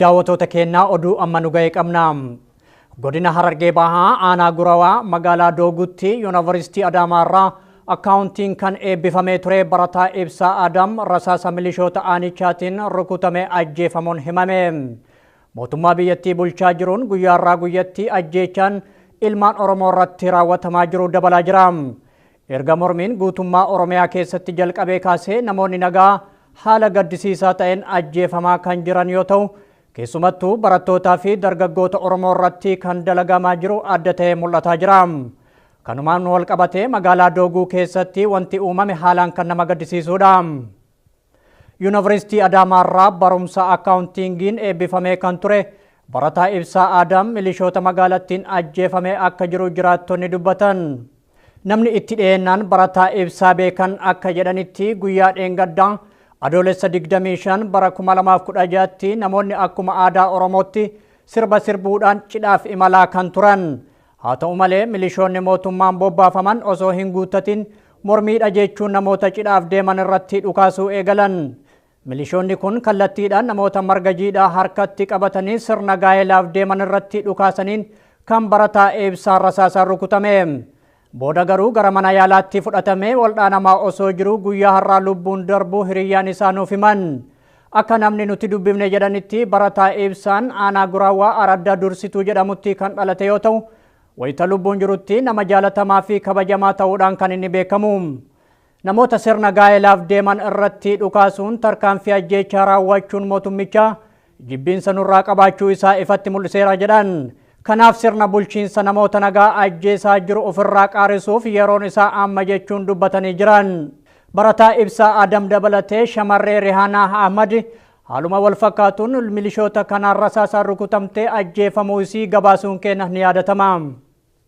Daawwatoota keenya oduu amma nu ga'e qabna. Godina Harargee Bahaa aanaa Gurawaa magaalaa Doogutti Yuunivarsiitii Adaamaa irraa akkaawuntiin kan eebbifamee ture barataa Ibsaa Adam rasaasa milishoota aanichaatiin rukutame ajjeefamuun himame. Mootummaa biyyattii bulchaa jiruun guyyaarraa guyyatti ajjeechaan ilmaan Oromoo irratti raawwatamaa jiru dabalaa jira. Erga mormiin guutummaa Oromiyaa keessatti jalqabee kaasee namoonni nagaa haala gaddisiisaa ta'een ajjeefamaa kan jiran yoo ta'u, keessumattuu barattootaa fi dargaggoota Oromoo irratti kan dalagamaa jiru adda ta'ee mul'ataa jira. Kanumaan wal qabatee magaalaa Dooguu keessatti wanti uumame haalaan kan nama gaddisiisudha. Yuunivarsiitii Adaamaarraa barumsa akkaawuntiingiin eebbifamee kan ture barataa Ibsaa Aadaam milishoota magaalattiin ajjeefamee akka jiru jiraattonni dubbatan. Namni itti dhiyeennaan barataa Ibsaa beekan akka jedhanitti guyyaa dheengaddaa adoolessa 25 bara 2016tti namoonni akkuma aadaa Oromootti sirba sirbuudhaan cidhaaf imalaa kan turan. Haa ta'u malee milishoonni mootummaan bobbaafaman osoo hin guuttatiin mormiidha jechuun namoota cidhaaf deeman irratti dhukaasuu eegalan. Milishoonni kun kallattiidhaan namoota marga jiidhaa harkatti qabatanii sirna gaa'elaaf deeman irratti dhukaasaniin kan barataa Eebsaa rasaasaan rukutame. Booda garuu gara mana yaalaatti fudhatamee waldhaanamaa osoo jiruu guyyaa har'aa lubbuun darbuu hiriyyaan isaa nuuf himan. Akka namni nuti dubbifne jedhanitti barataa Eebsaan aanaa Guraawaa Araddaa Dursituu jedhamutti kan dhalate yoo ta'u, wayita lubbuun jirutti nama jaalatamaa fi kabajamaa ta'uudhaan kan inni beekamu. Namoota sirna gaa'elaaf deeman irratti dhukaasuun tarkaanfii ajjeechaa raawwachuun mootummicha jibbiinsa nurraa qabaachuu isaa ifatti mul'iseera jedhan. Kanaaf sirna bulchiinsa namoota nagaa ajjeesaa jiru ofirraa qaarisuuf yeroon isaa amma jechuun dubbatanii jiran. Barataa Ibsaa Adam dabalatee shamarree Rihaanaa Ahmad haaluma wal fakkaatuun milishoota kanaan rasaasaan rukutamtee ajjeefamuu isii gabaasuun keenya ni yaadatama.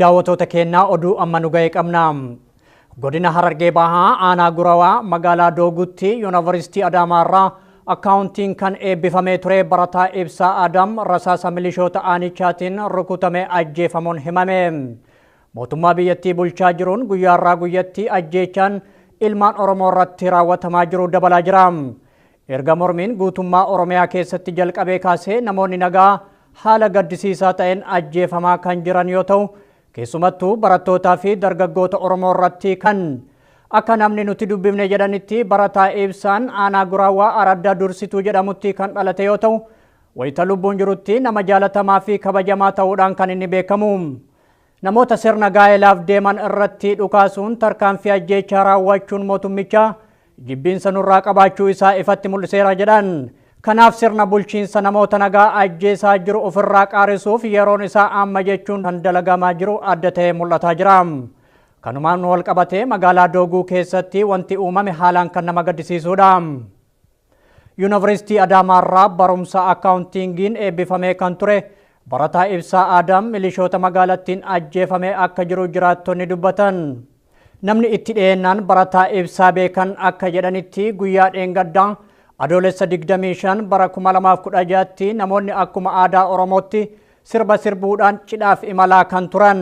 Daawwatoota keenya oduu amma nu ga'e qabna. Godina Harargee Bahaa aanaa Gurawaa magaalaa Doogutti Yuunivarsiitii Adaamaa irraa akkaawuntiin kan eebbifamee ture barataa Ibsaa Adam rasaasa milishoota aanichaatiin rukutame ajjeefamuun himame. Mootummaa biyyattii bulchaa jiruun guyyaarraa guyyatti ajjeechaan ilmaan Oromoo irratti raawwatamaa jiru dabalaa jira. Erga mormiin guutummaa Oromiyaa keessatti jalqabee kaasee namoonni nagaa haala gaddisiisaa ta'een ajjeefamaa kan jiran yoo ta'u, keessumattuu barattootaa fi dargaggoota Oromoo irratti kan akka namni nuti dubbifne jedhanitti barataa Ibsaan aanaa Guraawwaa Araddaa Dursituu jedhamutti kan dhalate yoo ta'u, wayita lubbuun jirutti nama jaalatamaa fi kabajamaa ta'uudhaan kan inni beekamu. Namoota sirna gaa'elaaf deeman irratti dhukaasuun tarkaanfii ajjeechaa raawwachuun mootummicha jibbiinsa nurraa qabaachuu isaa ifatti mul'iseera jedhan. Kanaaf sirna bulchiinsa namoota nagaa ajjeesaa jiru ofirraa qaarisuuf yeroon isaa amma jechuun kan dalagamaa jiru adda ta'ee mul'ataa jira. Kanumaan walqabatee magaalaa Dooguu keessatti wanti uumame haalaan kan nama gaddisiisuudha. Yunavarsiitii Adaamaarraa barumsa akkaawuntiingiin eebbifamee kan ture barataa Ibsaa Aadaam milishoota magaalattiin ajjeefamee akka jiru jiraattonni dubbatan. Namni itti dhiyeennaan barataa Ibsaa beekan akka jedhanitti guyyaa dheengaddaa adoolessa 25 bara 2016tti namoonni akkuma aadaa Oromootti sirba sirbuudhaan cidhaaf imalaa kan turan.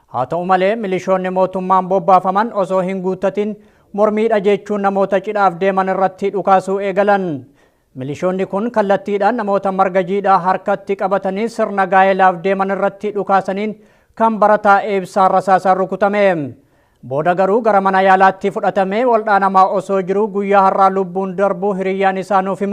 Haa ta'u malee milishoonni mootummaan bobbaafaman osoo hin guuttatin mormiidha jechuun namoota cidhaaf deeman irratti dhukaasuu eegalan. Milishoonni kun kallattiidhaan namoota marga jiidhaa harkatti qabatanii sirna gaa'elaaf deeman irratti dhukaasaniin kan barataa eebsaa rasaasaan rukutame. Booda garuu gara mana yaalaatti fudhatamee waldhaanamaa osoo jiruu guyyaa har'aa lubbuun darbuu hiriyyaan isaa nuuf hima.